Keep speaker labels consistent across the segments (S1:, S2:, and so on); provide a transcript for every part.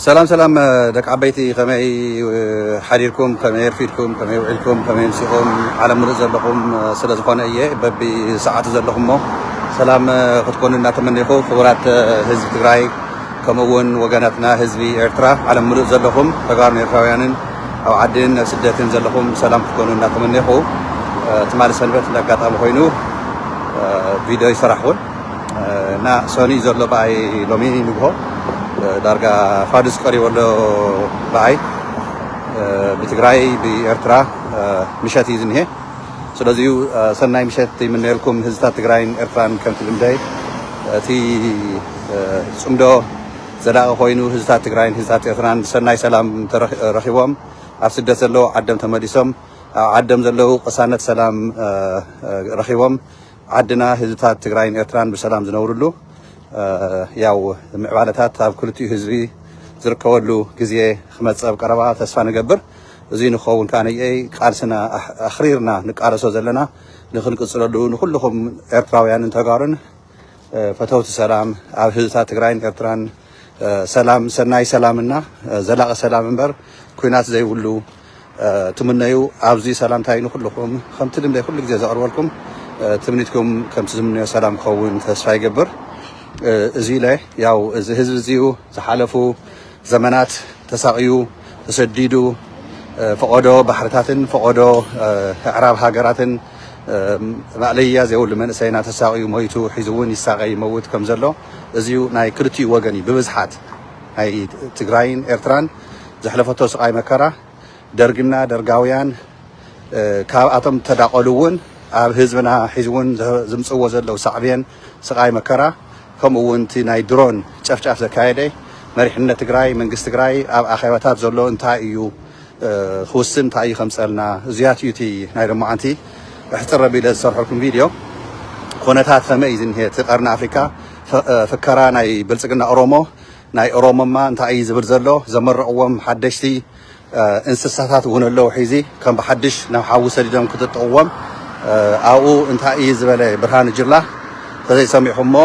S1: ሰላም ሰላም ደቂ ዓበይቲ ከመይ ሓዲርኩም ከመይ ኣርፊድኩም ከመይ ውዒልኩም ከመይ ምሲኹም ዓለም ምሉእ ዘለኹም ስለ ዝኾነ እየ በቢ ሰዓቱ ዘለኹም እሞ ሰላም ክትኮኑ እናተመኒኹ ክቡራት ህዝቢ ትግራይ ከምኡ እውን ወገናትና ህዝቢ ኤርትራ ዓለም ምሉእ ዘለኹም ተጋሩን ኤርትራውያንን ኣብ ዓድን ኣብ ስደትን ዘለኹም ሰላም ክትኮኑ እናተመኒኹ ትማሊ ሰንበት እንዳ ኣጋጣሚ ኮይኑ ቪድዮ ይሰራሕኹን እና ሰኑይ ዘሎ ብኣይ ሎሚ ንግሆ ዳርጋ ፋዱስ ቀሪቡ ኣሎ ብኣይ ብትግራይ ብኤርትራ ምሸት እዩ ዝኒሀ ስለዚ ሰናይ ምሸት ይምነየልኩም ህዝብታት ትግራይን ኤርትራን ከምቲ ልምደይ እቲ ፅምዶ ዘላቒ ኮይኑ ህዝብታት ትግራይን ህዝብታት ኤርትራን ሰናይ ሰላም ረኺቦም ኣብ ስደት ዘለዉ ዓዶም ተመሊሶም ኣብ ዓዶም ዘለዉ ቅሳነት ሰላም ረኺቦም ዓድና ህዝብታት ትግራይን ኤርትራን ብሰላም ዝነብርሉ ያው ምዕባለታት ኣብ ክልቲኡ ህዝቢ ዝርከበሉ ግዜ ክመፅእ ኣብ ቀረባ ተስፋ ንገብር። እዙይ ንክኸውን ከዓ ነየይ ቃልስና ኣኽሪርና ንቃለሶ ዘለና ንክንቅፅለሉ ንኩልኹም ኤርትራውያንን ተጋሩን ፈተውቲ ሰላም ኣብ ህዝብታት ትግራይን ኤርትራን ሰላም ሰናይ ሰላምና ዘላቂ ሰላም እምበር ኩናት ዘይብሉ ትምነዩ ኣብዚ ሰላምታይ ንኩልኩም ከምቲ ልምደይ ኩሉ ግዜ ዘቅርበልኩም ትምኒትኩም ከምቲ ዝምነዮ ሰላም ክኸውን ተስፋ ይገብር እዚ ኢለ ያው እዚ ህዝቢ እዚዩ ዝሓለፉ ዘመናት ተሳቅዩ ተሰዲዱ ፈቆዶ ባሕርታትን ፈቆዶ ኣዕራብ ሃገራትን ማእለያ ዘይብሉ መንእሰይና ተሳቅዩ ሞይቱ ሒዙ እውን ይሳቀ ይመውት ከም ዘሎ እዚዩ ናይ ክልቲኡ ወገን እዩ ብብዝሓት ናይ ትግራይን ኤርትራን ዘሕለፈቶ ስቃይ መከራ ደርግና ደርጋውያን ካብኣቶም ተዳቀሉ እውን ኣብ ህዝብና ሒዚ እውን ዝምፅዎ ዘለው ሳዕቤን ስቃይ መከራ ከምኡ እውን እቲ ናይ ድሮን ጨፍጫፍ ዘካየደ መሪሕነት ትግራይ መንግስቲ ትግራይ ኣብ ኣኼባታት ዘሎ እንታይ እዩ ክውስን እንታይ እዩ ከምፀልና እዚያት እዩ እቲ ናይ ሎማዓንቲ እሕፅር ኣቢለ ዝሰርሐልኩም ቪድዮ ኮነታት ከመይ እዩ ዝኒሀ እቲ ቀርኒ ኣፍሪካ ፍከራ ናይ ብልፅግና ኦሮሞ ናይ ኦሮሞማ እንታይ እዩ ዝብል ዘሎ ዘመረቅዎም ሓደሽቲ እንስሳታት እውን ኣለው ሒዚ ከም ብሓድሽ ናብ ሓዊ ሰዲዶም ክጥጥቅዎም ኣብኡ እንታይ እዩ ዝበለ ብርሃኑ ጅላ ተዘይሰሚዕኹሞ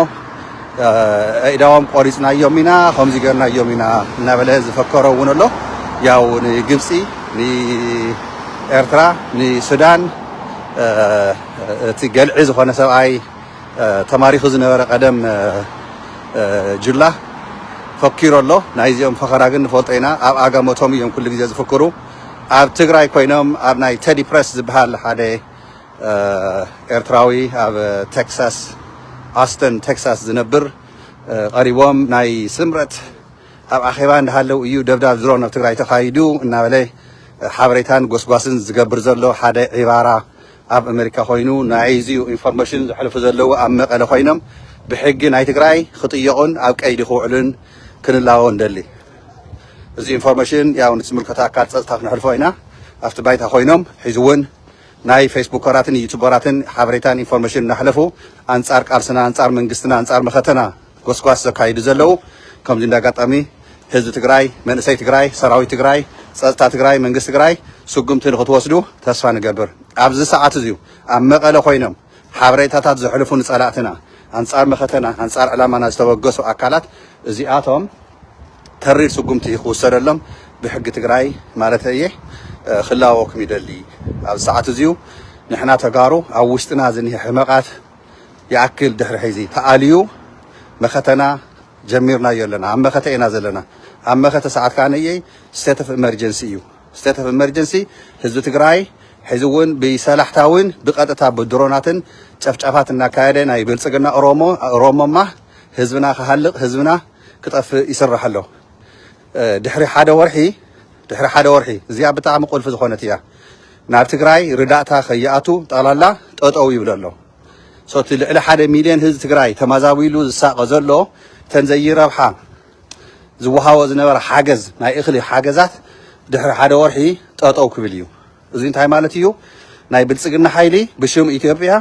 S1: ኣእዳዎም ቆሪፅናዮም ኢና ከምዚ ገርናዮም ኢና እናበለ ዝፈከሮ እውን ኣሎ ያው ንግብፂ ንኤርትራ ንሱዳን እቲ ገልዒ ዝኾነ ሰብኣይ ተማሪኹ ዝነበረ ቀደም ጅላ ፈኪሩ ኣሎ ናይ እዚኦም ፈኸራ ግን ንፈልጦ ኢና ኣብ ኣጋመቶም እዮም ኩሉ ግዜ ዝፍክሩ ኣብ ትግራይ ኮይኖም ኣብ ናይ ቴዲ ፕረስ ዝበሃል ሓደ ኤርትራዊ ኣብ ቴክሳስ ኣስተን ቴክሳስ ዝነብር ቀሪቦም ናይ ስምረት ኣብ ኣኼባ እንዳሃለው እዩ ደብዳብ ድሮን ኣብ ትግራይ ተኻይዱ እናበለ ሓበሬታን ጎስጓስን ዝገብር ዘሎ ሓደ ዒባራ ኣብ ኣመሪካ ኮይኑ ናይዚዩ ኢንፎርመሽን ዘሕልፉ ዘለዉ ኣብ መቀለ ኮይኖም ብሕጊ ናይ ትግራይ ክጥየቁን ኣብ ቀይዲ ክውዕሉን ክንላቦ ንደሊ እዚ ኢንፎርመሽን ያው ንዝምልከቶ ኣካል ፀፅታ ክነሕልፎ ኢና ኣብቲ ባይታ ኮይኖም ሕዚ እውን ናይ ፌስቡከራትን ዩቱበራትን ሓበሬታን ኢንፎርመሽን እናሕለፉ ኣንፃር ቃልስና ኣንፃር መንግስትና ኣንፃር መኸተና ጎስጓስ ዘካይዱ ዘለው ከምዚ እንዳ ኣጋጣሚ ህዝቢ ትግራይ መንእሰይ ትግራይ ሰራዊት ትግራይ ፀፅታ ትግራይ መንግስቲ ትግራይ ስጉምቲ ንክትወስዱ ተስፋ ንገብር ኣብዚ ሰዓት እዙይ ኣብ መቀለ ኮይኖም ሓበሬታታት ዘሕልፉ ንፀላእትና ኣንፃር መኸተና ኣንፃር ዕላማና ዝተበገሱ ኣካላት እዚኣቶም ተሪር ስጉምቲ ክውሰደሎም ብሕጊ ትግራይ ማለት እየ ክላወኩም ይደሊ ኣብዚ ሰዓት እዙይ ንሕና ተጋሩ ኣብ ውሽጥና ዝኒሀ ሕመቃት ይኣክል ድሕሪ ሕዚ ተኣልዩ መኸተና ጀሚርናዮ ኣለና ኣብ መኸተ ኢና ዘለና ኣብ መኸተ ሰዓት ከኣ ነየይ ስቴት ኦፍ ኤመርጀንሲ እዩ ስቴት ኦፍ ኤመርጀንሲ ህዝቢ ትግራይ ሕዚ እውን ብሰላሕታዊን ብቀጥታ ብድሮናትን ጨፍጫፋት እናካየደ ናይ ብልፅግና ኦሮሞ ኦሮሞማ ህዝብና ክሃልቕ ህዝብና ክጠፍእ ይስራሕ ኣሎ ድሕሪ ሓደ ወርሒ ድሕሪ ሓደ ወርሒ እዚኣ ብጣዕሚ ቁልፊ ዝኾነት እያ ናብ ትግራይ ርዳእታ ከይኣቱ ጠቕላላ ጠጠው ይብል ኣሎ ሶ እቲ ልዕሊ ሓደ ሚልዮን ህዝቢ ትግራይ ተማዛቢሉ ዝሳቐ ዘሎ እተን ዘይረብሓ ዝወሃቦ ዝነበረ ሓገዝ ናይ እኽሊ ሓገዛት ድሕሪ ሓደ ወርሒ ጠጠው ክብል እዩ እዚ እንታይ ማለት እዩ ናይ ብልፅግና ሓይሊ ብሽም ኢትዮጵያ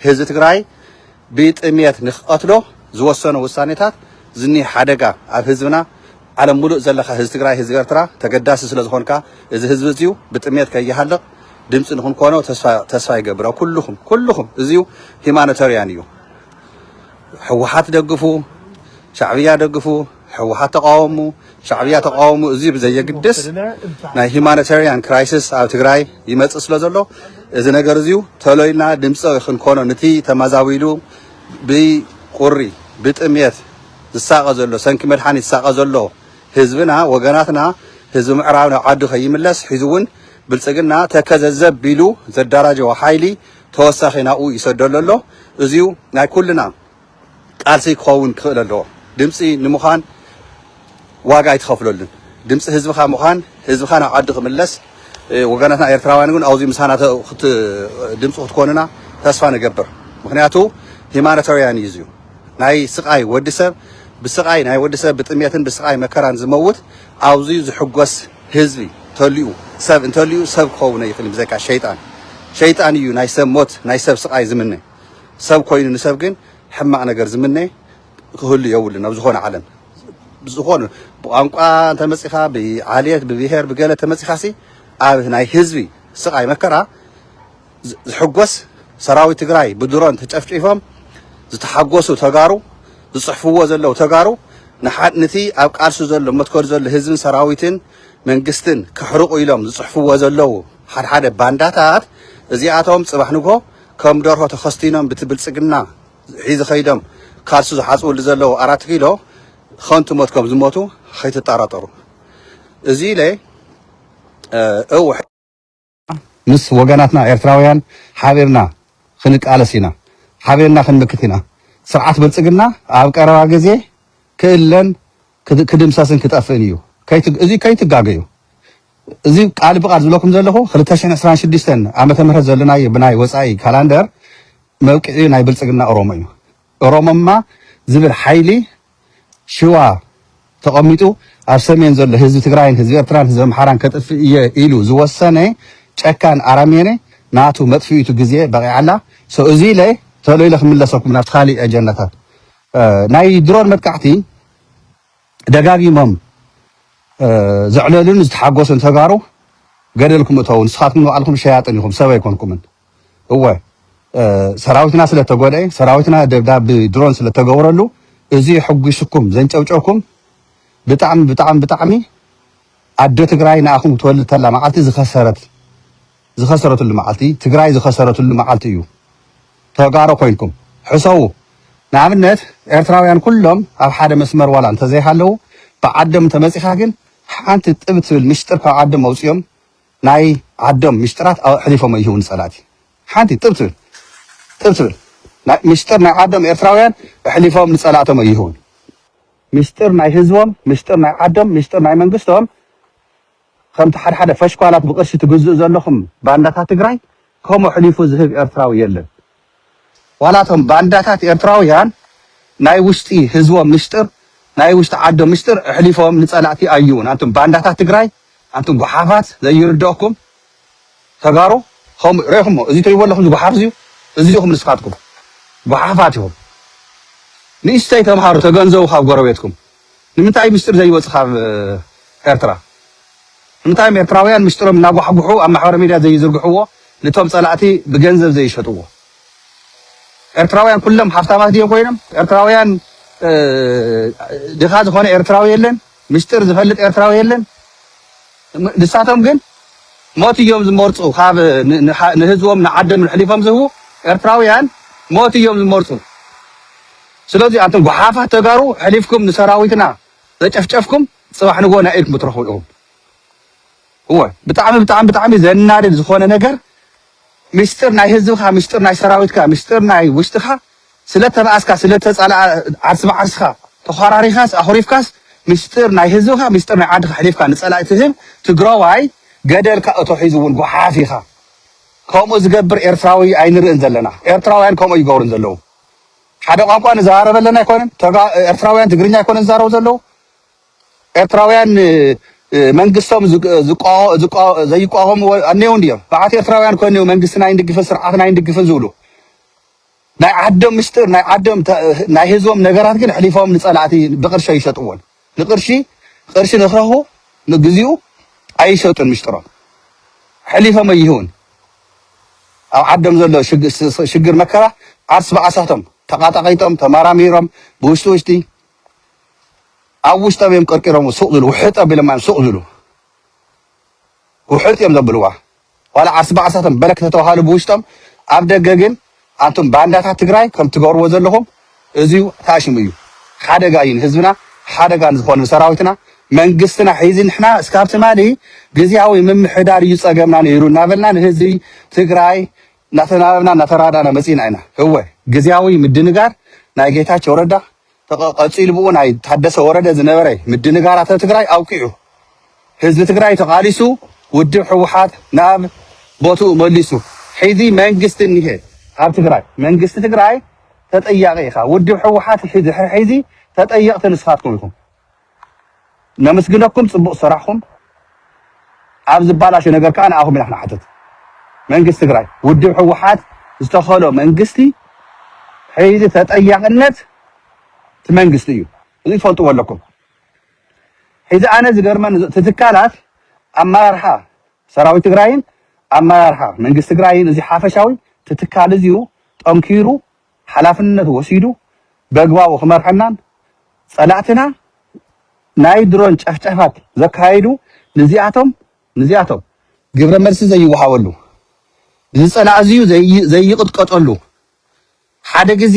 S1: ህዝቢ ትግራይ ብጥምየት ንክቀትሎ ዝወሰኖ ውሳኔታት ዝኒህ ሓደጋ ኣብ ህዝብና ዓለም ሙሉእ ዘለካ ህዝቢ ትግራይ ህዝቢ ኤርትራ ተገዳሲ ስለዝኮንካ እዚ ህዝቢ እዙይ ብጥምየት ከይሃልቅ ድምፂ ንክንኮኖ ተስፋ ይገብር ኩሉኩም ኩሉኩም እዙይ ሂማኖተርያን እዩ ሕወሓት ደግፉ ሻዕብያ ደግፉ ሕወሓት ተቓወሙ ሻዕብያ ተቓወሙ እዚ ብዘየግድስ ናይ ሂማኒታርያን ክራይስስ ኣብ ትግራይ ይመፅእ ስለ ዘሎ እዚ ነገር እዚዩ ተሎ ኢልና ድምፂ ክንኮኖ ንቲ ተማዛቢሉ ብቁሪ ብጥምየት ዝሳቐ ዘሎ ሰንኪ መድሓኒት ዝሳቐ ዘሎ ህዝብና ወገናትና ህዝቢ ምዕራብ ናብ ዓዱ ከይምለስ ሒዙ እውን ብልፅግና ተከዘ ዘብ ቢሉ ዘዳራጀዎ ሓይሊ ተወሳኺ ናብኡ ይሰደሉ ኣሎ እዚዩ ናይ ኩልና ቃልሲ ክኸውን ክኽእል ኣለዎ። ድምፂ ንምዃን ዋጋ ኣይትኸፍለሉን። ድምፂ ህዝብኻ ምዃን ህዝብኻ ናብ ዓዱ ክምለስ ወገናትና ኤርትራውያን ግን ኣብዙይ ምሳና ድምፂ ክትኮኑና ተስፋ ንገብር። ምክንያቱ ሂማኖታውያን እዩ እዙይ ናይ ስቃይ ወዲ ሰብ ብስቃይ ናይ ወዲ ሰብ ብጥሜትን ብስቃይ መከራን ዝመውት ኣብዙይ ዝሕጎስ ህዝቢ ተልኡ ሰብ እንተልኡ ሰብ ክኸውነ ይኽእል ብዘካ ሸይጣን ሸይጣን እዩ ናይ ሰብ ሞት ናይ ሰብ ስቃይ ዝምነ ሰብ ኮይኑ ንሰብ ግን ሕማቅ ነገር ዝምነ ክህሉ የብሉን ኣብ ዝኮነ ዓለም ብዝኮነ ብቋንቋ እንተመጺኻ ብዓልየት ብብሄር ብገለ ተመጺኻሲ ኣብ ናይ ህዝቢ ስቃይ መከራ ዝሕጎስ ሰራዊት ትግራይ ብድሮን ተጨፍጪፎም ዝተሓጎሱ ተጋሩ ዝጽሕፍዎ ዘለው ተጋሩ ንሓንቲ ኣብ ቃልሲ ዘሎ መትከሉ ዘሎ ህዝብን ሰራዊትን መንግስትን ከሕርቁ ኢሎም ዝጽሕፍዎ ዘለው ሓድሓደ ባንዳታት እዚኣቶም ጽባሕ ንግሆ ከም ደርሆ ተኸስቲኖም ብቲ ብልጽግና ሒዚ ከይዶም ካልሲ ዝሓጽብሉ ዘለዉ ኣራት ኪሎ ኸንቱ ሞት ከም ዝሞቱ ኸይትጣራጠሩ እዚ ኢለ እው ምስ ወገናትና ኤርትራውያን ሓቢርና ኽንቃለስ ኢና ሓቢርና ኽንምክት ኢና ስርዓት ብልጽግና ኣብ ቀረባ ግዜ ክእለን ክድምሰስን ክጠፍእን እዩ እዚ ከይትጋገዩ እዚ ቃል ብቃል ዝብለኩም ዘለኹ ክልተ ሽሕን ዕስራን ሽዱሽተን ዓመተ ምህረት ዘለናዮ ብናይ ወጻኢ ካላንደር መብቅዒኡ ናይ ብልጽግና ኦሮሞ እዩ። ኦሮሞማ ዝብል ሓይሊ ሽዋ ተቐሚጡ ኣብ ሰሜን ዘሎ ህዝቢ ትግራይን ህዝቢ ኤርትራን ህዝቢ ኣምሓራን ከጥፍእ እየ ኢሉ ዝወሰነ ጨካን ኣራሜኔ ናቱ መጥፍኢቱ ግዜ በቒዓ ኣላ። ሶ እዚ ኢለ ቶሎ ኢለ ክምለሰኩም ናብቲ ካሊእ ኣጀንዳታት ናይ ድሮን መጥቃዕቲ ደጋጊሞም ዘዕለሉን ዝተሓጎሱን ተጋሩ ገደል ክም እተዉ ንስኻትኩም ንባዕልኩም ሸያጥን ኢኹም ሰብ ኣይኮንኩምን እወ ሰራዊትና ስለ ተጎድኤ ሰራዊትና ደብዳብ ብድሮን ስለ ተገብረሉ እዚ የሕጒስኩም ዘንጨብጨብኩም ብጣዕሚ ብጣዕሚ ብጣዕሚ ኣደ ትግራይ ንኣኹም ትወልድ ተላ መዓልቲ ዝኸሰረት ዝኸሰረትሉ መዓልቲ ትግራይ ዝኸሰረትሉ መዓልቲ እዩ ተጋሩ ኮይንኩም ሕሰቡ ንኣብነት ኤርትራውያን ኩሎም ኣብ ሓደ መስመር ዋላ እንተዘይሃለዉ ብዓዶም እንተመጺኻ ግን ሓንቲ ጥብ ትብል ምሽጥር ካብ ዓዶም ኣውጺኦም ናይ ዓዶም ምሽጥራት ኣሕሊፎም ኣይህቡ ንጸላእቲ ሓንቲ ጥብ ትብል ጥብ ትብል ናይ ምሽጥር ናይ ዓዶም ኤርትራውያን ኣሕሊፎም ንጸላእቶም ኣይህቡን ምሽጥር ናይ ህዝቦም ምሽጥር ናይ ዓዶም ምሽጥር ናይ መንግስቶም ከምቲ ሓድሓደ ፈሽኳላት ብቅርሺ ትግዝኡ ዘለኹም ባንዳታት ትግራይ ከምኡ ኣሕሊፉ ዝህብ ኤርትራዊ የለን ዋላ እቶም ባንዳታት ኤርትራውያን ናይ ውሽጢ ህዝቦም ምሽጥር ናይ ውሽጢ ዓዶም ምሽጥር ኣሕሊፎም ንጸላእቲ ኣይውን ኣንቱም ባንዳታት ትግራይ ኣንቱም ጉሓፋት ዘይርደኣኩም ተጋሩ ከምኡ ሬኹሞ እዚ ትሪእዎ ኣለኹም ጉሓፍ እዚዩ እዚ ኢኹም ንስኻትኩም ጉሓፋት ኢኹም ንእሽተይ ተምሃሩ ተገንዘቡ ካብ ጎረቤትኩም ንምንታይ እዩ ምስጢር ዘይወጽእ ካብ ኤርትራ? ንምንታይ እዮም ኤርትራውያን ምስጢሮም እናጓሕጉሑ ኣብ ማሕበረ ሚድያ ዘይዝርግሕዎ ንቶም ጸላእቲ ብገንዘብ ዘይሸጥዎ? ኤርትራውያን ኩሎም ሃፍታማት ድዮም ኮይኖም? ኤርትራውያን ድኻ ዝኾነ ኤርትራዊ የለን? ምስጢር ዝፈልጥ ኤርትራዊ የለን? ንሳቶም ግን ሞት እዮም ዝመርጹ ካብ ንህዝቦም ንዓዶም ኣሕሊፎም ዝህቡ ኤርትራውያን ሞት እዮም ዝመርጹ። ስለዚ ኣንቱም ጉሓፋት ተጋሩ ሕሊፍኩም ንሰራዊትና ዘጨፍጨፍኩም ጽባሕ ንግሆ ናይ ኢድኩም ክትረኽቡ ኢኹም። እወ ብጣዕሚ ብጣዕሚ ብጣዕሚ ዘናድድ ዝኾነ ነገር ምስጢር ናይ ህዝብኻ ምስጢር ናይ ሰራዊትካ ምስጢር ናይ ውሽጥኻ ስለተባኣስካ ስለተጻልኣ ዓርሲ ብዓርስኻ ተዃራሪኻስ ኣኹሪፍካስ ምስጢር ናይ ህዝብኻ ምስጢር ናይ ዓድኻ ሕሊፍካ ንጸላኢ ትህብ ትግራዋይ ገደል ካእቶ ሒዙ እውን ጉሓፍ ኢኻ። ከምኡ ዝገብር ኤርትራዊ ኣይንርእን ዘለና። ኤርትራውያን ከምኡ ይገብሩን ዘለዉ። ሓደ ቋንቋ ንዘራረበለን ኣይኮነን ተጋ ኤርትራውያን ትግርኛ ኣይኮነን ዝዛረቡ ዘለዉ ኤርትራውያን እ፣ እ፣ መንግስቶም ዝቅ- ዝቋወ- ዝቋወ- ዘይቋወሙ ኣነው እንድዮም በዓት ኤርትራውያን ኮነው መንግስትና ኣይንድግፍን ስርዓትና ኣይንድግፍን ዝብሉ ናይ ዓዶም ምስጢር ናይ ዓዶም ተ- ናይ ህዝቦም ነገራት ግን ኣሕሊፎም ንጸላእቲ ብቅርሸ ይሸጥዎን ንቅርሺ ቅርሺ ንክረክቡ ንግዚኡ ኣይሸጡን ምሽጥሮም ሐሊፎም ኣይህቡን ኣብ ዓዶም ዘሎ ሽግር መከራ ዓርስ ብዓሳቶም ተቃጣቂጦም ተማራሚሮም ብውሽጢ ውሽጢ ኣብ ውሽጦም እዮም ቀርቂሮም ሱቅ ዝብሉ ውሕጥ ኣቢሎማ እዮም ሱቅ ዝብሉ ውሕጥ እዮም ዘብልዋ ዋላ ዓርስ ብዓርሳቶም በረክ ተተባሃሉ ብውሽጦም ኣብ ደገ ግን ኣንቱም ባንዳታት ትግራይ ከም ትገብርዎ ዘለኹም እዙዩ ታሽሙ እዩ ሓደጋ እዩ ንህዝብና ሓደጋ ንዝኾኑ ንሰራዊትና መንግስትና ሒዚ ንሕና እስካብ ትማሊ ግዝያዊ ምምሕዳር እዩ ፀገምና ነይሩ እናበልና ንህዝቢ ትግራይ እናተናበብና እናተራዳና መፂና ኢና እወ ግዝያዊ ምድንጋር ናይ ጌታቸው ረዳ ተቐ ቀጺሉ ብኡ ናይ ታደሰ ወረደ ዝነበረ ምድንጋራተ ትግራይ ኣብቂዑ ህዝቢ ትግራይ ተቓሊሱ ውድብ ሕውሓት ናብ ቦትኡ መሊሱ ሕዚ መንግስቲ እኒሀ ኣብ ትግራይ መንግስቲ ትግራይ ተጠያቒ ኢኻ ውድብ ሕውሓት ሕዚ ሕዚ ተጠየቕቲ ንስኻትኩም ኢኹም ነምስግነኩም ፅቡቅ ስራሕኹም ኣብ ዝባላሾ ነገር ከዓ ንኣኹም ኢና ክንሓትት መንግስቲ ትግራይ ውድብ ሕወሓት ዝተኸሎ መንግስቲ ሕዚ ተጠያቅነት እቲ መንግስቲ እዩ እዚ ትፈልጥዎ ኣለኩም ሕዚ ኣነ ዝገርመን እቲ ትካላት ኣመራርሓ ሰራዊት ትግራይን ኣመራርሓ መንግስቲ ትግራይን እዚ ሓፈሻዊ እቲ ትካል እዚዩ ጠንኪሩ ሓላፍነት ወሲዱ በግባቡ ክመርሐናን ፀላእትና ናይ ድሮን ጨፍጨፋት ዘካይዱ ንዚኣቶም ንዚኣቶም ግብረ መልሲ ዘይወሃበሉ ንዝፀላእ እዚዩ ዘይቕጥቀጠሉ ሓደ ግዜ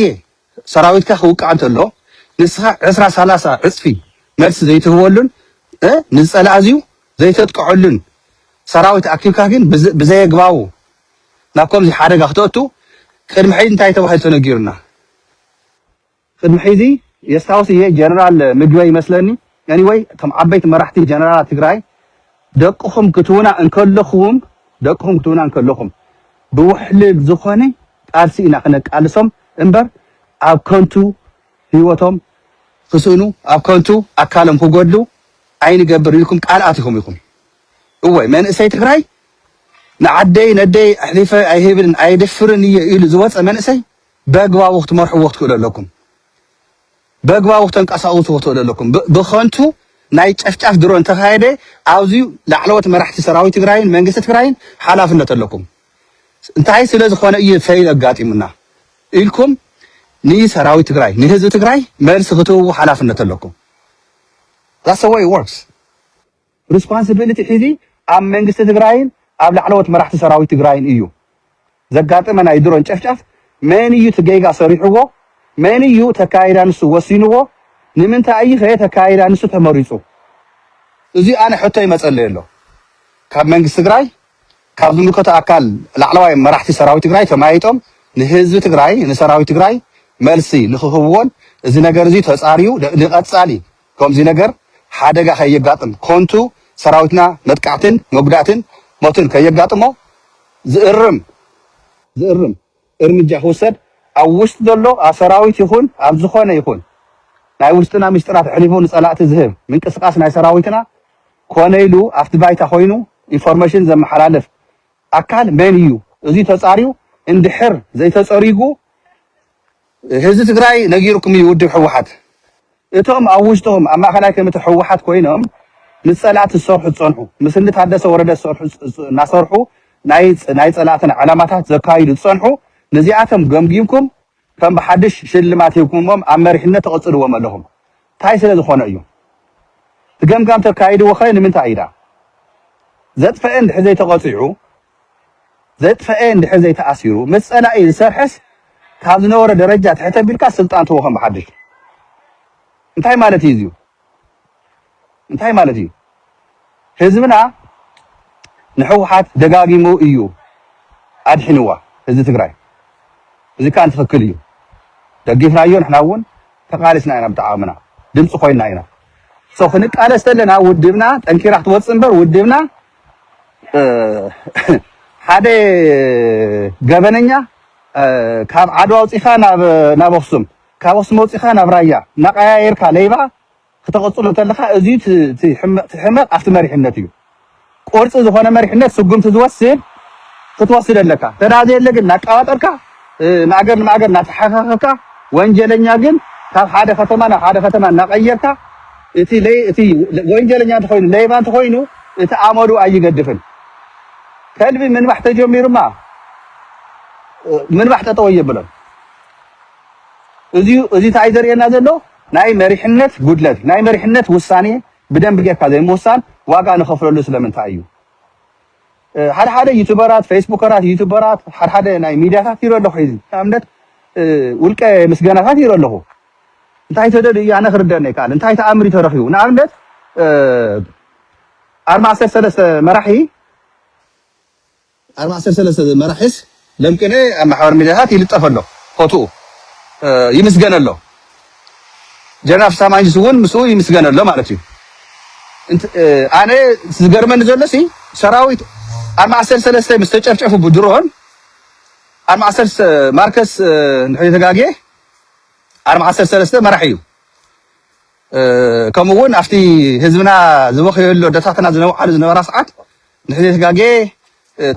S1: ሰራዊትካ ክውቃዕ እንተሎ ንስኻ ዕስራ ሰላሳ ዕፅፊ መልሲ ዘይትህበሉን ንዝፀላእ እዚዩ ዘይተጥቀዐሉን ሰራዊት ኣኪብካ ግን ብዘየግባቡ ናብ ከምዚ ሓደጋ ክትኣቱ ቅድሚ ሕዚ እንታይ ተባሂሉ ተነጊሩና? ቅድሚ ሕዚ የስታውስ እየ ጀነራል ምግበይ ይመስለኒ Anyway እቶም ዓበይቲ መራሕቲ ጀነራላት ትግራይ ደቅኹም ክትዉና እንከለኹም ደቅኹም ክትዉና እንከለኹም ብዉሕልል ዝኾነ ቃልሲ ኢና ክነቃልሶም እምበር ኣብ ከንቱ ህይወቶም ክስእኑ ኣብ ከንቱ ኣካሎም ክጎድሉ ኣይንገብር ኢልኩም ቃል ኣቲኹም ኢኹም። እወ መንእሰይ ትግራይ ንዓደይ ነደይ ኣሕሊፈ ኣይህብን ኣየድፍርን እየ ኢሉ ዝወፀ መንእሰይ በግባቡ ክትመርሕዎ ክትክእሉ ኣለኩም በግባቡ ክተንቀሳቅሱ ክትክእሉ ኣለኩም ብከንቱ ናይ ጨፍጫፍ ድሮ እንተካየደ ኣብዚ ላዕለዎት መራሕቲ ሰራዊት ትግራይን መንግስቲ ትግራይን ሓላፍነት ኣለኩም እንታይ ስለ ዝኾነ እዩ ፈይል ኣጋጢሙና ኢልኩም ንሰራዊት ትግራይ ንህዝቢ ትግራይ መልሲ ክትህቡ ሓላፍነት ኣለኩም That's the way it works. Responsibility ሒዚ ኣብ መንግስቲ ትግራይን ኣብ ላዕለዎት መራሕቲ ሰራዊት ትግራይን እዩ። ዘጋጠመ ናይ ድሮን ጨፍጫፍ መን እዩ እቲ ጌጋ ሰሪሑዎ? መን እዩ እቲ ኣካይዳ ንሱ ወሲኑዎ? ንምንታይ እዩ ከ እቲ ኣካይዳ ንሱ ተመሪፁ? እዙይ ኣነ ሕቶ ይመፀለይ ኣሎ። ካብ መንግስቲ ትግራይ ካብ ዝምልከቶ ኣካል ላዕለዋይ መራሕቲ ሰራዊት ትግራይ ተመያይጦም ንህዝቢ ትግራይ ንሰራዊት ትግራይ መልሲ ንክህቡዎን እዚ ነገር እዙይ ተፃርዩ ንቀፃሊ ከምዚ ነገር ሓደጋ ከየጋጥም ኮንቱ ሰራዊትና መጥቃዕትን መጉዳእትን ሞትን ከየጋጥሞ ዝእርም ዝእርም እርምጃ ክውሰድ ኣብ ውሽጢ ዘሎ ኣብ ሰራዊት ይኹን ኣብ ዝኾነ ይኹን ናይ ውሽጥና ሚስጢራት ኣሕሊፉ ንፀላእቲ ዝህብ ምንቅስቃስ ናይ ሰራዊትና ኮነ ኢሉ ኣብቲ ባይታ ኮይኑ ኢንፎርሜሽን ዘመሓላልፍ ኣካል መን እዩ እዙይ ተፃርዩ እንድሕር ዘይተፀሪጉ ህዝቢ ትግራይ ነጊሩኩም እዩ ውድብ ህወሓት እቶም ኣብ ውሽጦም ኣብ ማእኸላይ ኮሚቴ ህወሓት ኮይኖም ምስ ፀላእቲ ዝሰርሑ ዝፀንሑ ምስ እኒ ታደሰ ወረደ ዝሰርሑ እናሰርሑ ናይ ናይ ፀላእትና ዕላማታት ዘካይዱ ዝፀንሑ ንዚኣቶም ገምጊምኩም ከም ብሓዱሽ ሽልማት ሂብኩምዎም ኣብ መሪሕነት ተቐፅልዎም ኣለኹም ታይ ስለ ዝኮነ እዩ እቲ ገምጋም ተካይድዎ ከ ንምንታይ እዩ ድኣ ዘጥፈኤ እንድሕር ዘይተቀፂዑ ዘጥፈኤ እንድሕር ዘይተኣሲሩ ምስ ፀላኢ ዝሰርሐስ ካብ ዝነበሮ ደረጃ ትሕት ኣቢልካ ስልጣን ትህቦ ከም ብሓድሽ እንታይ ማለት እዩ እዚዩ እንታይ ማለት እዩ ህዝብና ንሕውሓት ደጋጊሙ እዩ ኣድሒንዋ ህዝቢ ትግራይ እዚ ካኣ ትክክል እዩ ደጊፍናዮ ንሕና እውን ተቃሊስና ኢና ብተዓቅምና ድምፂ ኮይና ኢና so ክንቃለስ ተለና ውድብና ጠንኪራ ክትወፅእ እምበር ውድብና ሓደ ገበነኛ ካብ ዓድዋ ኣውፂኻ ናብ ኣክሱም ካብ ኣክሱም ኣውፂኻ ናብ ራያ ናቀያየርካ ለይባ ክተቅጽሎ እንተለካ እዚዩ እቲ ሕመቅ ኣብቲ መሪሕነት እዩ ቆርጺ ዝኮነ መሪሕነት ስጉምቲ ዝወስድ ክትወስድ ኣለካ ተዳ ዘየለ ግን ናቃባጠርካ ማእገር ንማእገር ናተሓካከካ ወንጀለኛ ግን ካብ ሓደ ከተማ ናብ ሓደ ከተማ ናቀየርካ እቲ ለይ እቲ ወንጀለኛ እንተኮይኑ ለይባ እንተኮይኑ እቲ ኣመሉ ኣይገድፍን ከልቢ ምንባሕ ተጀሚሩማ ምንባሕ ጠጠው የብሎን እዚ እዚ እንታይ ዘርእየና ዘሎ ናይ መሪሕነት ጉድለት፣ ናይ መሪሕነት ውሳኔ ብደንቢ ጌርካ ዘይምውሳን ዋጋ ንኸፍለሉ ስለምንታይ እዩ? ሓደ ሓደ ዩቱበራት፣ ፌስቡከራት፣ ዩቱበራት፣ ሓደ ሓደ ናይ ሚድያታት ይርኢ ኣለኹ ሕዚ ንኣብነት ውልቀ ምስገናታት ይርኢ ኣለኹ እንታይ ተደልዩ እዩ ኣነ ክርደኒ ኣይከኣልን እንታይ ተኣምር እዩ ተረኺቡ ንኣብነት ኣርባዕተ ሰለስተ መራሒ ኣርባ ዓሰርተ ሰለስተ መራሒስ ደም ቅኔ ኣብ ማሕበራዊ ሚድያታት ይልጠፍ ኣሎ ፎትኡ ይምስገን ኣሎ ጀነራል ፍስሃ ማንጁስ እውን ምስኡ ይምስገን ኣሎ ማለት እዩ እንት ኣነ ዝገርመኒ ዘሎ ሲ ሰራዊት ኣርባ ዓሰርተ ሰለስተ ምስ ተጨፍጨፉ ብድሮን ኣርባ ዓሰርተ ማርከስ ንሕሪ ተጋግየ ኣርባ ዓሰርተ ሰለስተ መራሒ እዩ ከምኡ እውን ኣብቲ ህዝብና ዝበኽየሉ ኣደታትና ዝነውዓሉ ዝነበራ ሰዓት ንተዘይተጋጌ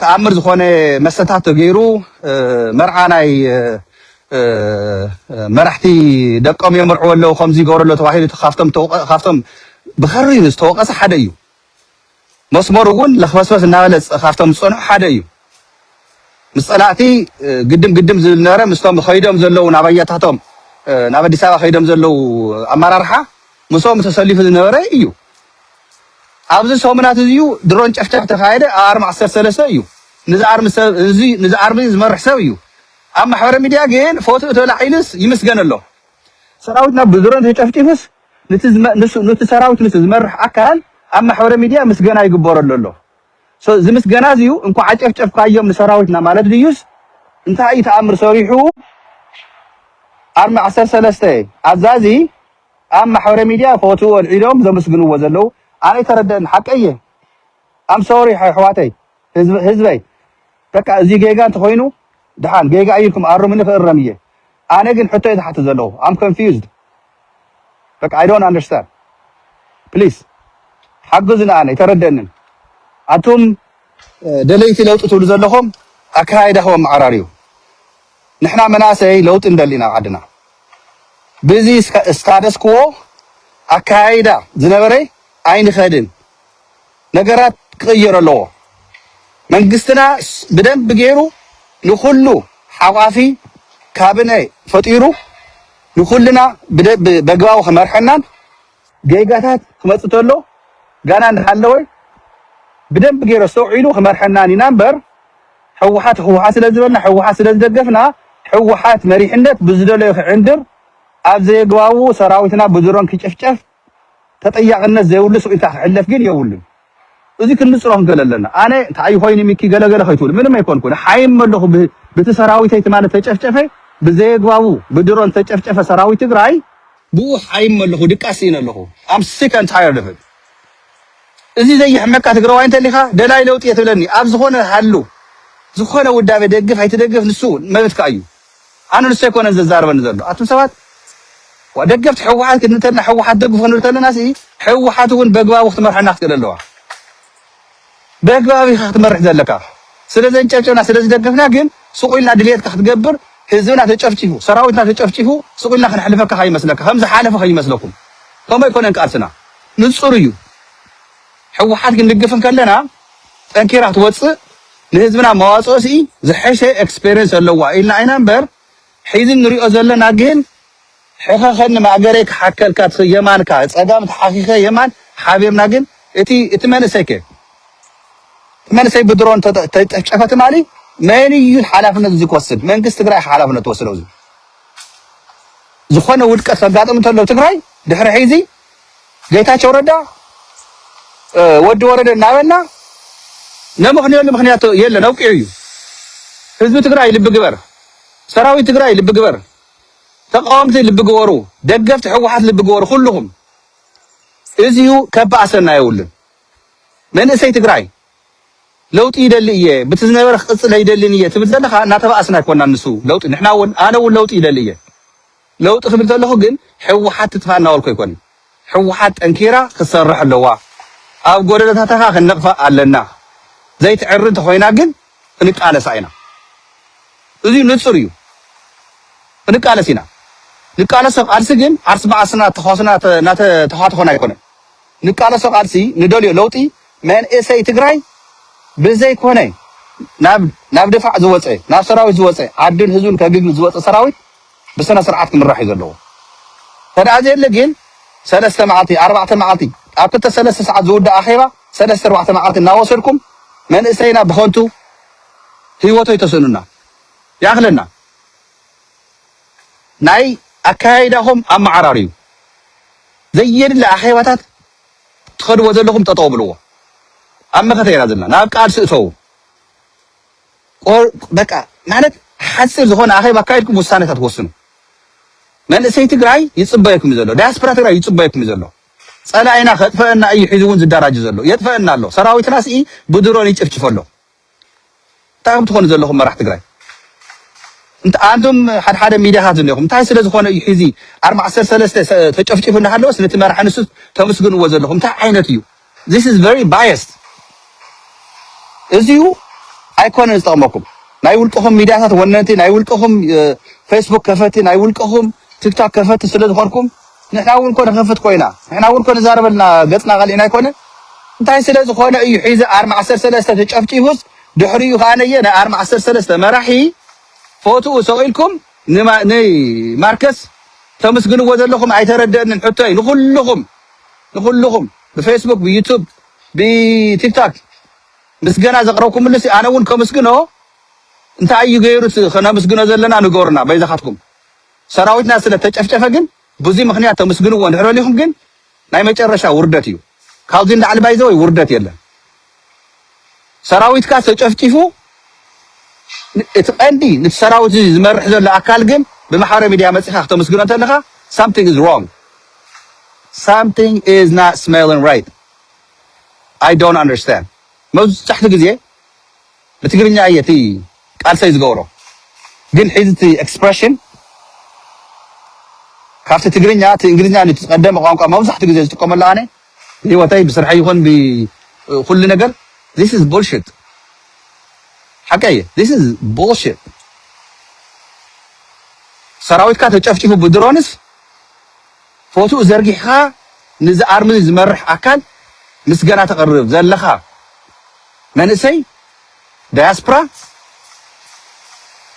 S1: ተኣምር ዝኾነ መስተታት ተገይሩ መርዓ ናይ መራሕቲ ደቆም የምርዕዎ ኣለዉ ከምዚ ይገብሩ ኣለዉ ተባሂሉ ካብቶም ካብቶም ብኸሪር ዝተወቐሰ ሓደ እዩ። መስመሩ እውን ለኽበስበስ እናበለ ካብቶም ዝፀንሑ ሓደ እዩ። ምስ ፀላእቲ ግድም ግድም ዝብል ነበረ ምስቶም ከይዶም ዘለዉ ናብ ኣያታቶም ናብ ኣዲስ ኣበባ ከይዶም ዘለዉ ኣመራርሓ ምስኦም ተሰሊፉ ዝነበረ እዩ። ኣብዚ ሰሙናት እዚ እዩ ድሮን ጨፍጫፍ ተካየደ ኣብ ኣርሚ ዓሰርተ ሰለስተ እዩ ንዚ ኣርሚ ሰብ እዚ ንዚ ኣርሚ ዝመርሕ ሰብ እዩ ኣብ ማሕበረ ሚድያ ግን ፎቶ ተላዒልስ ይምስገን ኣሎ ሰራዊትና ብድሮን ተጨፍጪፍስ ንቲ ንሱ ንቲ ሰራዊት ንሱ ዝመርሕ ኣካል ኣብ ማሕበረ ሚድያ ምስገና ይግበረሉ ኣሎ ሶ እዚ ምስገና እዚ እዩ እንኳዕ ኣጨፍጨፍካዮም ንሰራዊትና ማለት ድዩስ እንታይ እዩ ተኣምር ሰሪሑ ኣርሚ ዓሰርተ ሰለስተ ኣዛዚ ኣብ ማሕበረ ሚድያ ፎትኡ ኣልዒሎም ዘምስግንዎ ዘለው ኣነይተረደኣኒ ሓቀይ እየ ኣም ሶሪ ኣሕዋተይ ህዝበይ በቃ እዙይ ጌጋ እንተኾይኑ ድሓን ጌጋ እዩ ኢልኩም ኣሩምኒ ክእረም እየ ኣነ ግን ሕቶ እየ ዝሓትት ዘለኹ ኣም ኮንፊውዝድ በቃ ኣይ ዶንት ኣንደርስታንድ ፕሊስ ሓግዙኒ ኣነ ኣይተረደኣንን ኣቱም ደለይቲ ለውጢ ትብሉ ዘለኹም ኣካያይዳኹም ኣመዓራርዩ ንሕና መናእሰይ ለውጢ ንደሊ ኢና ኣብ ዓድና ብዚ ስታተስክዎ ኣከያይዳ ዝነበረ ኣይንኸድን ነገራት ክቕየር ኣለዎ መንግስትና ብደንቢ ገይሩ ንኹሉ ሓቛፊ ካብነ ፈጢሩ ንኹልና በግባቡ ክመርሐናን ጌጋታት ክመጽእ ተሎ ጋና እንዳሃለወ ብደንቢ ጌሩ ኣስተውዒሉ ክመርሐናን ኢና እምበር ሕውሓት ሕውሓት ስለ ዝበልና ሕውሓት ስለ ዝደገፍና ሕውሓት መሪሕነት ብዝደለዮ ክዕንድር ኣብ ዘየግባቡ ሰራዊትና ብድሮን ክጭፍጨፍ ተጠያቅነት ዘይብሉ ስቂልካ ክሕለፍ ግን የብሉን። እዚ ክሊ ጽሮም ገለ ኣለና ኣነ ታይ ኮይኒ ሚኪ ገለ ገለ ከይትብል ምንም ኣይኮንኩ ንሓይም መለኩ ብቲ ሰራዊተይ ትማሊ ተጨፍጨፈ ብዘየግባቡ ብድሮን ተጨፍጨፈ ሰራዊት ትግራይ ብኡ ሓይም መለኩ ድቃስ ሲኢነ ኣለኩ ኣም ሲክ ኣን ታየርድ ኦፍ ኢት እዚ ዘየሕመካ ትግራዋይ እንተሊካ ደላይ ለውጢ እየ ትብለኒ ኣብ ዝኮነ ሃሉ ዝኮነ ውዳበ ደግፍ ኣይትደግፍ ንሱ መብትካ እዩ ኣነ ንሱ ኣይኮነን ዘዛርበኒ ዘሎ ኣቱም ሰባት ዋ ደገፍቲ ሕወሓት ክንብል ተለና ሕወሓት ደግፉ ክንብል ተለና ሲ ሕወሓት እውን በግባቡ ክትመርሐና ክትክእል ኣለዋ በግባብ ኢኻ ክትመርሕ ዘለካ ስለ ዘንጨብጨብና ስለ ዝደገፍና ግን ሱቕ ኢልና ድልየትካ ክትገብር ህዝብና ተጨፍጪፉ ሰራዊትና ተጨፍጪፉ ሱቕ ኢልና ክንሕልፈካ ከይመስለካ ከም ዝሓለፈ ከይመስለኩም ከምኡ ኣይኮነን ቃልስና ንፁር እዩ ሕወሓት ክንድግፍ ከለና ጠንኪራ ትወጽእ ንህዝብና መዋጽኦ ስኢ ዝሐሸ ኤክስፐርየንስ ኣለዋ ኢልና ኢና እምበር ሒዚ ንሪኦ ዘለና ግን ሕኸኸኒ ማእገረይ ክሓከልካ እቲ የማንካ ጸጋም ተሓኺኸ የማን ሓቢርና ግን እቲ እቲ መንእሰይ ከ እቲ መንእሰይ ብድሮን ተጨፍጨፈ ትማሊ መን እዩ ሓላፍነት እዚ ክወስድ መንግስቲ ትግራይ ኢኻ ሓላፍነት ትወስደው እዚ ዝኾነ ውድቀት ከጋጥም እንተሎ ትግራይ ድሕሪ ሒዚ ጌታቸው ረዳ ወዲ ወረደ እናበልና ነምኽንየሉ ምኽንያት የለን፣ ኣብቂዑ እዩ። ህዝቢ ትግራይ ልቢ ግበር፣ ሰራዊት ትግራይ ልቢ ግበር፣ ተቃወምቲ ልቢ ግበሩ፣ ደገፍቲ ሕወሓት ልቢ ግበሩ፣ ኩልኹም እዚዩ ከባእሰና የብሉን። መንእሰይ ትግራይ ለውጢ ይደሊ እየ ብቲ ዝነበረ ክቅፅል ኣይደልን እየ ትብል ዘለካ እናተባእስና ኣይኮናን ንሱ ለውጢ ንሕና እውን ኣነ እውን ለውጢ ይደሊ እየ ለውጢ ክብል ከለኩ ግን ህወሓት ትጥፋእ እናበልኩ ኣይኮንን ህወሓት ጠንኪራ ክትሰርሕ ኣለዋ ኣብ ጎደሎታታ ከኣ ክንነቅፋ ኣለና ዘይትዕሪ እንተኮይና ግን ክንቃለሳ ኢና እዙይ ንፁር እዩ ክንቃለስ ኢና ንቃለሶ ቃልሲ ግን ዓርስ ብዓርስና ተኳስና እናተተኳተኮና ኣይኮነን ንቃለሶ ቃልሲ ንደልዮ ለውጢ መንእሰይ ትግራይ ብዘይኮነ ናብ ናብ ድፋዕ ዝወፀ ናብ ሰራዊት ዝወፀ ዓዱን ህዝቡን ከግግል ዝወፀ ሰራዊት ብስነ ስርዓት ክምራሕ እዩ ዘለዎ እንተድኣ ዘየለ ግን ሰለስተ መዓልቲ ኣርባዕተ መዓልቲ ኣብ ክልተ ሰለስተ ሰዓት ዝውዳእ ኣኼባ ሰለስተ ኣርባዕተ መዓልቲ እናወሰድኩም መንእሰይና ብኸንቱ ህይወቱ ኣይተስእኑና ይኣኽለና ናይ ኣከያይዳኹም ኣመዓራርዩ ዘየድሊ ኣኼባታት ትኸድዎ ዘለኹም ጠጠው ብልዎ ኣብ መኸተ ኢና ዘለና ናብ ቃልሲ እተዉ ቆርብ በቃ ማለት ሓጺር ዝኾነ ኣኼባ ኣካይድኩም ውሳነታት ወስኑ። መንእሰይ ትግራይ ይጽበየኩም እዩ ዘሎ። ዳያስፖራ ትግራይ ይጽበየኩም እዩ ዘሎ። ጸላኢና ከጥፈአና እዩ ሒዙ እውን ዝዳራጅ ዘሎ የጥፈአና ኣሎ። ሰራዊትና ስኢ ብድሮን ይጭፍጭፍ ኣሎ። እንታይ ከም ትኾኑ ዘለኹም መራሕ ትግራይ እንተ ኣንቱም ሓደ ሓደ ሚዲያታት ዘለኹም እንታይ ስለ ዝኾነ እዩ ሒዚ ኣርባ ዓሰርተ ሰለስተ ተጨፍጪፉ እናሃለወስ ነቲ መራሒ ንሱ ተመስግንዎ ዘለኹም እንታይ ዓይነት እዩ This is very biased እዚዩ ኣይኮነን ዝጠቕመኩም ናይ ውልቅኹም ሚድያታት ወነንቲ ናይ ውልቅኹም ፌስቡክ ከፈቲ ናይ ውልቅኹም ቲክቶክ ከፈቲ ስለ ዝኾንኩም ንሕና እውን ኮነ ከፍት ኮይና ንሕና እውን ኮነ ዛረበልና ገፅና ቀሊዕና ኣይኮነ እንታይ ስለ ዝኾነ እዩ ሒዚ ኣርማ ዓሰርተ ሰለስተ ተጨፍጪፉስ ድሕሪኡ ከዓ ነየ ናይ ኣርማ ዓሰርተ ሰለስተ መራሒ ፎትኡ ሰቂልኩም ን ማርከስ ተምስግንዎ ዘለኹም ኣይተረደእንን ሕቶይ ንኹሉኹም ንኹሉኹም ብፌስቡክ ብዩቱብ ብቲክታክ ምስገና ዘቕረብኩምሉሲ ኣነ ውን ከምስግኖ እንታይ እዩ ገይሩ እቲ ከነምስግኖ ዘለና ንገሩና በይዛኻትኩም ሰራዊትና ስለ ተጨፍጨፈ ግን ብዙይ ምኽንያት ተምስግንዎ እንድሕር በሊኹም ግን ናይ መጨረሻ ውርደት እዩ ካብዚ ንላዕሊ ባይዘወይ ውርደት የለን ሰራዊትካ ተጨፍጪፉ እቲ ቀንዲ ንቲ ሰራዊት እዚ ዝመርሕ ዘሎ ኣካል ግን ብማሕበራዊ ሚድያ መጺኻ ክተመስግኖ እንተለኻ ሳምቲንግ ኢዝ ሮንግ ሳምቲንግ ኢዝ ናት ስሜሊን ራይት ኣይ ዶንት ኣንደርስታንድ መብዝሕትኡ ግዜ ብትግርኛ እየ እቲ ቃልሰይ ዝገብሮ ግን ሒዚ እቲ ኤክስፕረሽን ካብቲ ትግርኛ እቲ እንግሊዝኛ ን እቲ ዝቀደመ ቋንቋ መብዛሕትኡ ግዜ ዝጥቀመሉ ኣነ ብሂወተይ ብስርሐይ ይኩን ብኩሉ ነገር this is bullshit ሓቀይ እየ this is bullshit ሰራዊትካ ተጨፍጪፉ ብድሮንስ ፎትኡ ዘርጊሕኻ ንዚ ኣርምዚ ዝመርሕ ኣካል ምስገና ተቅርብ ዘለኻ መንእሰይ ዳያስፕራ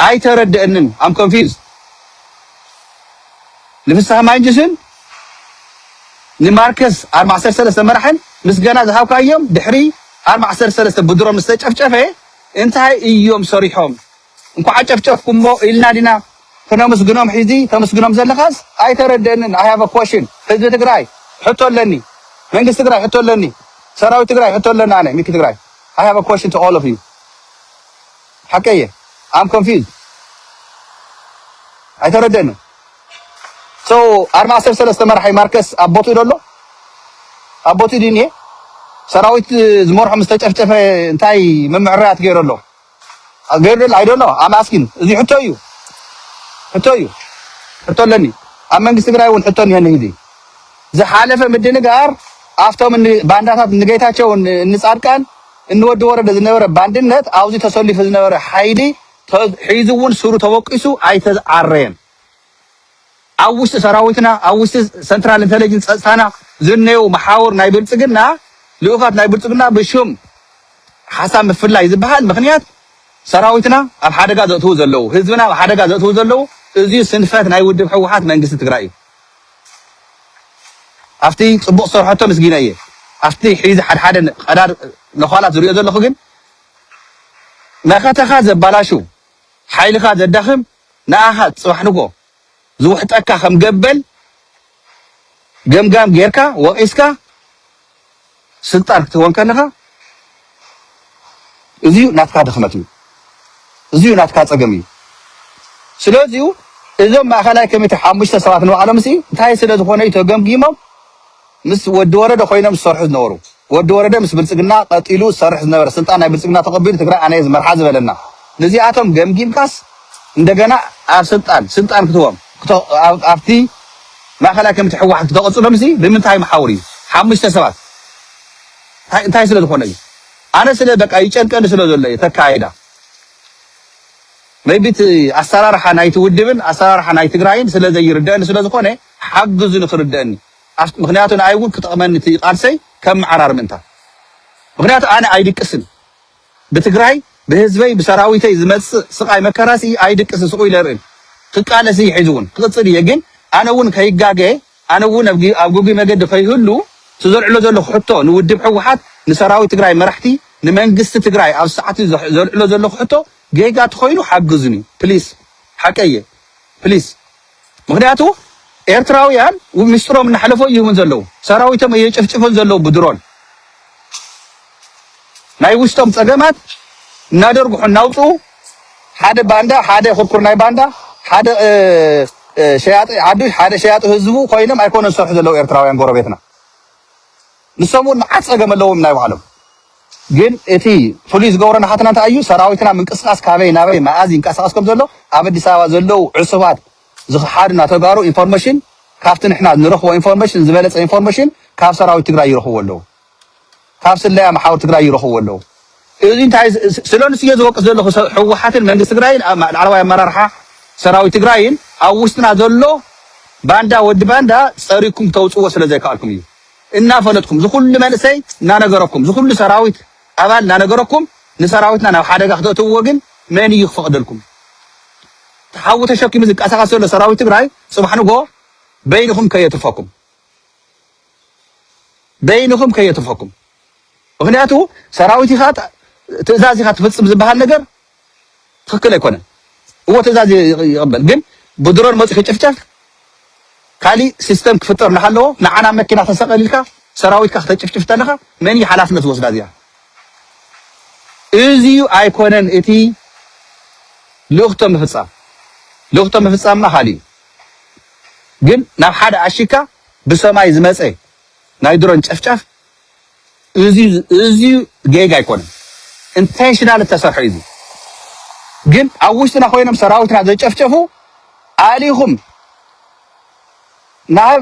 S1: ኣይተረደእንን ኣም ኮንፊዝድ ንፍስሃ ማንጁስን ንማርከስ ኣርብ ዓሰርተ ሰለስተ መራሕን ምስገና ዝሃብካዮም ድሕሪ ኣርብ ዓሰርተ ሰለስተ ብድሮን ምስተጨፍጨፈ እንታይ እዮም ሰሪሖም እንኳዕ ኣጨፍጨፍኩሞ ኢልና ዲና ክነምስግኖም ሒዚ ተምስግኖም ዘለኻስ ኣይተረደእንን i have a question ህዝቢ ትግራይ ሕቶ ኣለኒ መንግስቲ ትግራይ ሕቶ ኣለኒ ሰራዊት ትግራይ ሕቶ ኣለኒ ኣነ ሚኪ ትግራይ i have a question to all of you ሓቀይ እየ I'm confused ኣይተረደእንን so ኣርማ ዓሰርተ ሰለስተ መራሒ ማርከስ ኣብ ቦትኡ ዶ ኣሎ ኣብ ቦትኡ ድዩ እኒኤ ሰራዊት ዝመርሖ ምስ ተጨፍጨፈ እንታይ ምምዕራያት ገይሩ ኣሎ ገርል ኣይ ዶንት ኖው ኣም ኣስኪን እዚ ሕቶ እዩ ሕቶ እዩ ሕቶ ኣለኒ ኣብ መንግስቲ ትግራይ እውን ሕቶ እኒሀኒ ሕዚ ዝሓለፈ ምድንጋር ኣብቶም እኒ ባንዳታት እኒ ጌታቸው እኒ እኒ ጻድቃን እኒ ወዲ ወረደ ዝነበረ ባንድነት ኣብዚ ተሰሊፉ ዝነበረ ሓይሊ ተ- ሒዙ እውን ስሩ ተወቂሱ ኣይተዓረየን ኣብ ውሽጢ ሰራዊትና ኣብ ውሽጢ ሰንትራል እንተለጅንስ ፀፅታና ዝነየው መሓውር ናይ ብልፅግና ልኡኻት ናይ ብልፅግና ብሽም ሓሳብ ምፍላይ ዝበሃል ምኽንያት ሰራዊትና ኣብ ሓደጋ ዘእትዉ ዘለዉ ህዝብና ኣብ ሓደጋ ዘእትዉ ዘለዉ እዚዩ ስንፈት ናይ ውድብ ሕወሓት መንግስቲ ትግራይ እዩ። ኣብቲ ፅቡቕ ዝሰርሐቶ ምስጊነ እየ ኣብቲ ሒዚ ሓድሓደ ቀዳድ ነዃላት ዝሪኦ ዘለኹ ግን መኸተኻ ዘባላሹ ሓይልኻ ዘዳኽም ንኣኻ ጽባሕ ንግሆ ዝውሕጠካ ከም ገበል ገምጋም ጌርካ ወቒስካ ስልጣን ክትህቦ እንከለኻ እዚዩ ናትካ ድኽመት እዩ እዚዩ ናትካ ጸገም እዩ ስለዚዩ እዞም ማእኸላይ ኮሚቴ ሓሙሽተ ሰባት ንባዕሎምሲ እንታይ ስለ ዝኾነ እዩ ተገምጊሞም ምስ ወዲ ወረደ ኮይኖም ዝሰርሑ ዝነበሩ። ወዲ ወረደ ምስ ብልፅግና ቀጢሉ ዝሰርሕ ዝነበረ ስልጣን ናይ ብልፅግና ተቀቢሉ ትግራይ ኣነ እየ ዝመርሓ ዝበለና ንዚኣቶም ገምጊምካስ እንደገና ኣብ ስልጣን ስልጣን ክትቦም ኣብቲ ማእኸላይ ኮሚቴ ህወሓት ክተቅፅሎምሲ ብምንታይ መሓውር እዩ ሓሙሽተ ሰባት እንታይ ስለ ዝኾነ እዩ ኣነ ስለ በቃ ይጨንቀኒ ስለ ዘሎ እዩ ተካይዳ maybe እቲ ኣሰራርሓ ናይቲ ውድብን ኣሰራርሓ ናይ ትግራይን ስለ ዘይርደእኒ ስለ ዝኾነ ሓግዙኒ ክርደእኒ ምክንያቱ ንኣይ እውን ክጠቅመኒ እቲ ቃልሰይ ከም ምዓራር ምእንታ ምክንያቱ ኣነ ኣይድቅስን ብትግራይ ብህዝበይ ብሰራዊተይ ዝመፅእ ስቃይ መከራሲ ኣይድቅስ ስቁ ኢለ ርእን ክቃለስ እየ ሕዚ እውን ክቅፅል እየ ግን ኣነ እውን ከይጋገ ኣነ እውን ኣብ ግጉይ መገዲ ከይህሉ እቲ ዘልዕሎ ዘለኩ ሕቶ ንውድብ ሕወሓት ንሰራዊት ትግራይ መራሕቲ ንመንግስቲ ትግራይ ኣብ ሰዓት ዘልዕሎ ዘለኩ ሕቶ ጌጋ ተኮይኑ ሓግዙኒ ፕሊስ ሓቀየ ፕሊስ ምኽንያቱ ኤርትራውያን ሚስጥሮም እናሕለፎ ይህቡን ዘለዉ ሰራዊቶም እየጨፍጭፎን ዘለዉ ብድሮን ናይ ውሽጦም ጸገማት እናደርጉሑ እናውጽኡ ሓደ ባንዳ ሓደ ኩርኩር ናይ ባንዳ ሓደ ሸያጢ ዓዱ ሓደ ሸያጢ ህዝቡ ኮይኖም ኣይኮነን ዝሰርሑ ዘለዉ ኤርትራውያን ጎረቤትና ንሶም እውን መዓት ፀገም ኣለዎም ናይ ባዕሎም ግን እቲ ፍሉይ ዝገብሮ ናሃትና እንታይ እዩ ሰራዊትና ምንቅስቃስ ካበይ ናበይ መኣዝ ይንቀሳቀስ ከም ዘሎ ኣብ ኣዲስ ኣበባ ዘለው ዕሱባት ዝክሓዱና ተጋሩ ኢንፎርሜሽን ካብቲ ንሕና ንረክቦ ኢንፎርሜሽን ዝበለፀ ኢንፎርሜሽን ካብ ሰራዊት ትግራይ ይረክብዎ ኣለው ካብ ስለያ መሓውር ትግራይ ይረክብዎ ኣለው እዚ እንታይ ስለንሱ እየ ዝወቅስ ዘለኹ ህወሓትን መንግስቲ ትግራይን ላዕለዋይ ኣመራርሓ ሰራዊት ትግራይን ኣብ ውሽጥና ዘሎ ባንዳ ወዲ ባንዳ ፀሪኩም ተውፅዎ ስለ ዘይከኣልኩም እዩ እናፈለጥኩም ዝኹሉ መንእሰይ እናነገረኩም ዝኹሉ ሰራዊት ኣባል እናነገረኩም ንሰራዊትና ናብ ሓደጋ ክተእትውዎ ግን መን እዩ ክፈቕደልኩም? እቲ ሓዊ ተሸኪሙ ዝንቀሳቐስ ዘሎ ሰራዊት ትግራይ ፅባሕ ንግሆ በይንኹም ከየትርፈኩም በይንኹም ከየትርፈኩም ምኽንያቱ ሰራዊት ኢኻ ትእዛዝ ኢኻ ትፍፅም ዝበሃል ነገር ትክክል ኣይኮነን እወ ትእዛዝ ይቅበል ግን ብድሮን መፂኡ ክጭፍጨፍ ካሊእ ሲስተም ክፍጠር እናሃለዎ ንዓና መኪና ተሰቀል ኢልካ ሰራዊትካ ክተጭፍጭፍ ተለካ መን እዩ ሓላፍነት ዝወስዳ እዚኣ እዚዩ ኣይኮነን እቲ ልእኽቶ ምፍፃም ልእኽቶ ምፍፃምና ካሊእ እዩ ግን ናብ ሓደ ኣሺካ ብሰማይ ዝመፀ ናይ ድሮን ጨፍጫፍ እዚ ጌጋ ኣይኮነን ኢንተንሽናል እተሰርሐ እዩ እዚ ግን ኣብ ውሽጥና ኮይኖም ሰራዊትና ዘጨፍጨፉ ኣሊኹም ናብ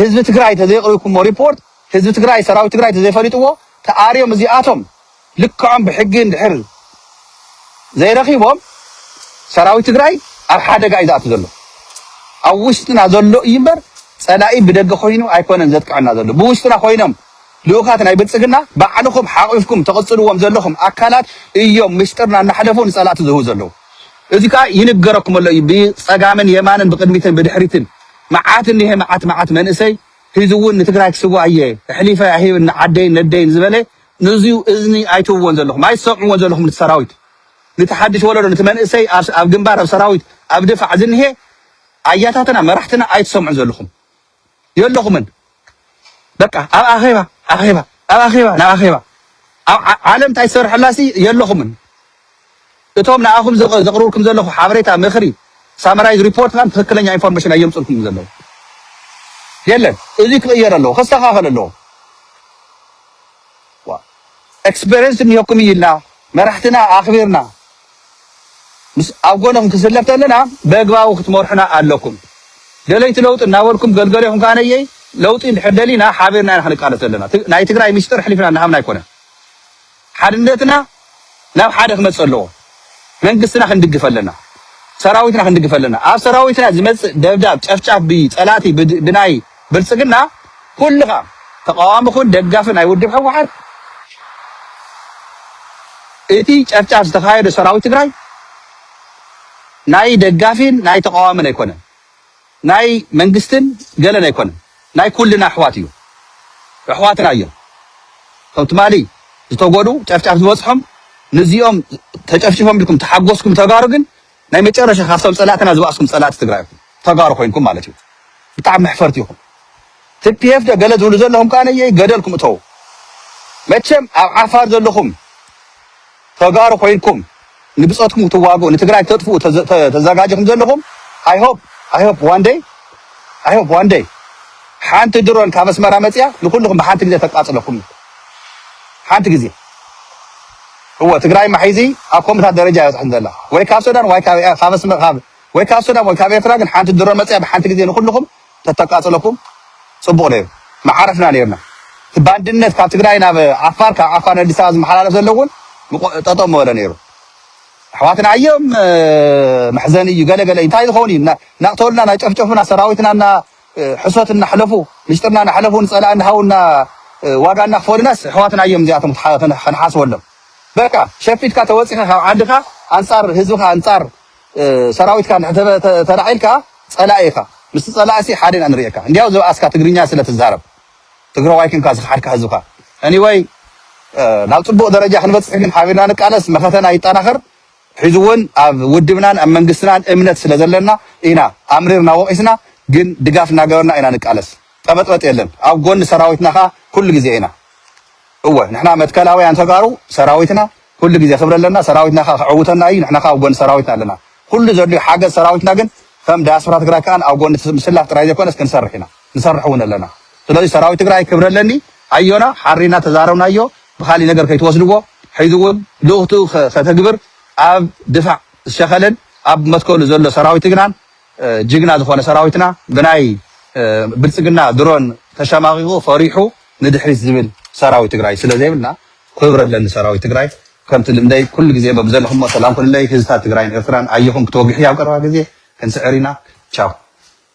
S1: ህዝቢ ትግራይ ተዘይቕሪብኩሞ ሪፖርት ህዝቢ ትግራይ ሰራዊት ትግራይ ተዘይፈሊጥዎ ተኣርዮም እዚኣቶም ልክዖም ብሕጊ እንድሕር ዘይረኺቦም ሰራዊት ትግራይ ኣብ ሓደጋ እዩ ዝኣቱ ዘሎ ኣብ ውሽጥና ዘሎ እዩ እምበር ፀላኢ ብደገ ኮይኑ ኣይኮነን ዘጥቅዐና ዘሎ ብውሽጥና ኮይኖም ልኡኻት ናይ ብልጽግና ባዕልኹም ሓቒፍኩም ተቕጽልዎም ዘለኹም ኣካላት እዮም ምስጢርና እናሕለፉ ንጸላእቲ ዝህቡ ዘለዉ። እዚ ከኣ ይንገረኩም ኣሎ እዩ ብጸጋምን የማንን ብቕድሚትን ብድሕሪትን መዓት እኒሀ መዓት መዓት መንእሰይ ሒዙ እውን ንትግራይ ክስዋእ እየ ኣሕሊፈ ኣይህብን ንዓደይን ነደይን ዝበለ ንዙይ እዝኒ ኣይትህብዎን ዘለኹም ኣይትሰምዕዎን ዘለኹም ንቲ ሰራዊት ንቲ ሓድሽ ወለዶ ንቲ መንእሰይ ኣብ ግንባር ኣብ ሰራዊት ኣብ ድፋዕ ዝኒሀ ኣያታትና መራሕትና ኣይትሰምዑን ዘለኹም የለኹምን በቃ ኣብ ኣኼባ ኣኼባ ኣብ ኣኼባ ናብ ኣኼባ ኣብ ዓ- ዓለም እንታይ ትሰርሐላሲ የለኹምን እቶም ንኣኹም ዘቕ- ዘቕርብልኩም ዘለኹ ሓበሬታ ምኽሪ ሳመራይዝ ሪፖርት ካን ትክክለኛ ኢንፎርሜሽን ኣየምፅልኩም ዘለዉ የለን እዚ ክቕየር ኣለዎ ከስተኻኸል ኣለዎ ዋእ ኤክስፐርየንስ እንሄኩም እዩ ኢልና መራሕትና ኣኽቢርና ምስ ኣብ ጎኖም ክስለፍ ተለና በግባቡ ክትመርሑና ኣለኩም ደለይቲ ለውጢ እናበልኩም ገልገሌኹም ከኣ ነየይ ለውጢ እንድሕር ደሊና ሓቢርና ኢና ክንቃለስ ዘለና ናይ ትግራይ ሚስጥር ሕሊፍና እናሃብና ኣይኮነን ሓድነትና ናብ ሓደ ክመጽእ ኣለዎ መንግስትና ክንድግፍ ኣለና ሰራዊትና ክንድግፍ ኣለና ኣብ ሰራዊትና ዝመጽእ ደብዳብ ጨፍጫፍ ብይ ጸላቲ ብናይ ብልጽግና ኩልኻ ተቃዋሚ ኩን ደጋፊ ናይ ውድብ ሕወሓት እቲ ጨፍጫፍ ዝተካየደ ሰራዊት ትግራይ ናይ ደጋፊን ናይ ተቃዋምን ኣይኮነን ናይ መንግስትን ገለን ኣይኮነን ናይ ኩልና ኣሕዋት እዩ ኣሕዋትና እዮም እቶም ትማሊ ዝተጎድኡ ጨፍጫፍ ዝበፅሖም ንዚኦም ተጨፍጪፎም ኢልኩም ተሓጎስኩም ተጋሩ ግን ናይ መጨረሻ ካብቶም ፀላእትና ዝባእስኩም ፀላእቲ ትግራይ ኢኹም ተጋሩ ኮይንኩም ማለት እዩ ብጣዕሚ መሕፈርቲ ኢኹም ትፒኤፍ ዶ ገለ ዝብሉ ዘለኹም ከኣ ነየይ ገደልኩም እተዉ መቸም ኣብ ዓፋር ዘለኹም ተጋሩ ኮይንኩም ንብፆትኩም ክትዋግኡ ንትግራይ ክተጥፍኡ ተዛጋጅኹም ዘለኹም ኣይ ሆፕ ኣይ ሆፕ ዋን ደይ ኣይ ሆፕ ዋን ደይ ሓንቲ ድሮን ካብ ኣስመራ መፅያ ንኩልኹም ብሓንቲ ግዜ ተቃፅለኩም እዩ ሓንቲ ግዜ እወ ትግራይ ማሒዚ ኣብ ኮምታት ደረጃ ይበፅሐን ዘላ ወይ ካብ ሱዳን ወይ ካብ ወይ ካብ ሱዳን ወይ ካብ ኤርትራ ግን ሓንቲ ድሮን መፅያ ብሓንቲ ግዜ ንኩልኹም ተተቃፅለኩም ፅቡቅ ነይሩ ምዓረፍና ነይርና እቲ ባንድነት ካብ ትግራይ ናብ ዓፋር ካብ ዓፋር ንኣዲስ ኣበባ ዝመሓላለፍ ዘሎ እውን ጠጠው ምበለ ነይሩ ኣሕዋትና እዮም መሕዘኒ እዩ ገለ ገለ እንታይ ዝኸውን እዩ ናቅተሉና ናጨፍጨፉና ሰራዊትና እና ሕሶት እናሕለፉ ምሽጥርና እናሕለፉ ንፀላእ እናሃው እና ዋጋ እናክፈሉናስ ኣሕዋትና እዮም እዚኣቶም ከንሓስበሎም በቃ ሸፊትካ ተወፂኻ ካብ ዓድኻ ኣንፃር ህዝብኻ ኣንፃር ሰራዊትካ እንድሕር ተላዒልካ ፀላኢ ኢኻ ምስቲ ፀላኢ ሲ ሓደ ኢና ንሪኤካ እንድያው ዝበኣስካ ትግርኛ ስለ ትዛረብ ትግራዋይ ኪንካ ዝኸሓድካ ህዝብኻ Anyway ናብ ፅቡቅ ደረጃ ክንበፅሕ ግን ሓቢርና ንቃለስ መኸተና ይጠናኸር ሕዚ እውን ኣብ ውድብናን ኣብ መንግስትናን እምነት ስለ ዘለና ኢና ኣምሪርና ወቂስና ግን ድጋፍ እናገበርና ኢና ንቃለስ ጠበጥበጥ የለን ኣብ ጎኒ ሰራዊትና ከዓ ኩሉ ግዜ ኢና እወ ንሕና መትከላውያን ተጋሩ ሰራዊትና ኩሉ ግዜ ክብሪ ኣለና ሰራዊትና ከኣ ክዕውተና ኢዩ ንሕና ከኣ ኣብ ጎኒ ሰራዊትና ኣለና ኩሉ ዘድልዮ ሓገዝ ሰራዊትና ግን ከም ዳያስፖራ ትግራይ ከኣ ኣብ ጎኒ ምስላፍ ጥራይ ዘይኮነስ ክንሰርሕ ኢና ንሰርሕ ውን ኣለና ስለዚ ሰራዊት ትግራይ ክብሪ ኣለኒ ኣዮና ሓሪና ተዛረብናዮ ብካሊእ ነገር ከይትወስድዎ ሕዚ ውን ልኡኽቱ ከተግብር ኣብ ድፋዕ ዝሸኸለን ኣብ መትከሉ ዘሎ ሰራዊት ግናን ጅግና ዝኾነ ሰራዊትና ብናይ ብልጽግና ድሮን ተሸማቂቁ ፈሪሑ ንድሕሪት ዝብል ሰራዊት ትግራይ ስለ ዘይብልና ክብሪ ኣለኒ ሰራዊት ትግራይ ከምቲ ልምደይ ኩሉ ግዜ በብዘለኹሞ ሰላም ኩንለይ ህዝብታት ትግራይን ኤርትራን ኣየኹም ክትወግሑ ኣብ ቀረባ ግዜ ክንስዕር ኢና ቻው።